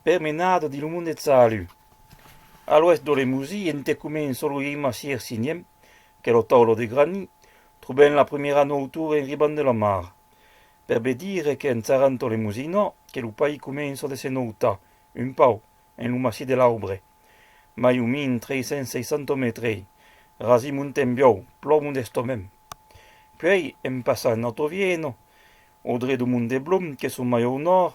Per menar dins lo mond eth salut. A l'oèst d'O Lemosí, ente comen soluim a Sier Siniem, qu'es lo taulo de grani, trobem la prumèra noutura en ribant de la mar. Per be dire que en Taranto Lemosino que lo país començo de se noutar, un pau, en lo massís de l'Aubre. Mai o min 360 metrei, rasi montem biau, plò modestomem. Puei, en passant Ottovieno, o dret o Mont de Blum, que son mai au nòrd,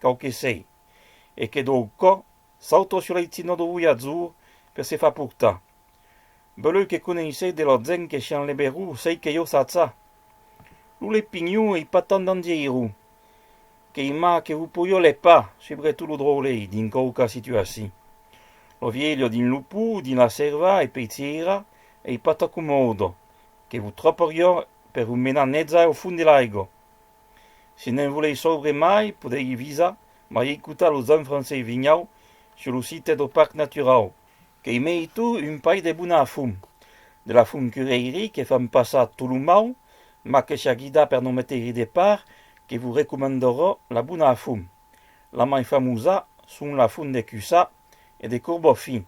Quau que sei. E que dau cò sauto sur l'aitzina dau voiatjor per se far portar. Beleu que coneissèi de la gent que shan leberù sei que jo sacha. Lo lepinho ei pas tant dangeirù. Qu'ei mà que vos poieu lepar, subretot lo dròlei, dins quauca situaci. Lo vielho dins lo pù, dins la sèrva e pei tieirar ei pas ta comòdo, que vos trapariò per vos menar netza au fond de l'aigo. Se ne'n volei sobre mai, podei visar, mai eicutar lo Zan Francei Vinhau sur lo site do Parc Naturau. Qu'ei mei tu un pai de bona fum, de la fum cureiri que fan passar tot lo mau, mas que s'a guidar per no meteiri de part, que vos recomandorò la bona fum. La mai famosa son la fum de Cussà e de Corbofin,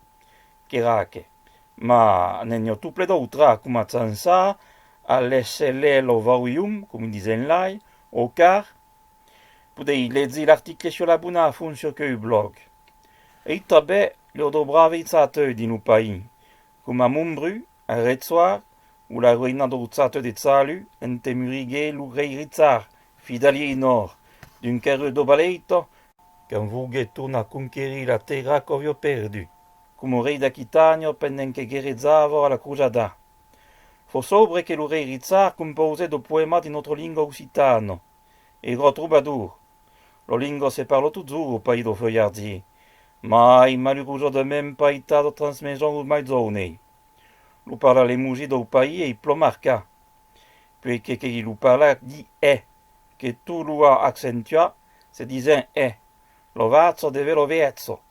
qu'era aque. Ma n'en i a tout ple d'autra, coma Tsansa, Aleselelovawium, com disen lai, o car, podei legi l'article sur la bona font sur queu blòg. Ei tabè lor do bravei tsaateu dins lo país, coma Mombru, a Retsoar, o la roina dou tsaateu de Tsalu, ente muriguei lo rei Ritsar, fidalier en òr, d'un carreu do Baleito, quand vouguet tornar conquerir la tèrra qu'auió perdut, Coma rei d'Aquitània pendent que guerrejava a la crujada. Fò sobre que lo rei Richard compausèt lo poèma dins notre lingua occitana, Ero trobadour. La lingua se parla totjorn au país dau Feuillardier, mai malurosament paitada transmeson au mai jounei. Lo parla l'emoji dau país ei plan marca, puei que que qui lo parla di è, que tot lo a accentuat se disent è. Lo vàcha devè lo vècha.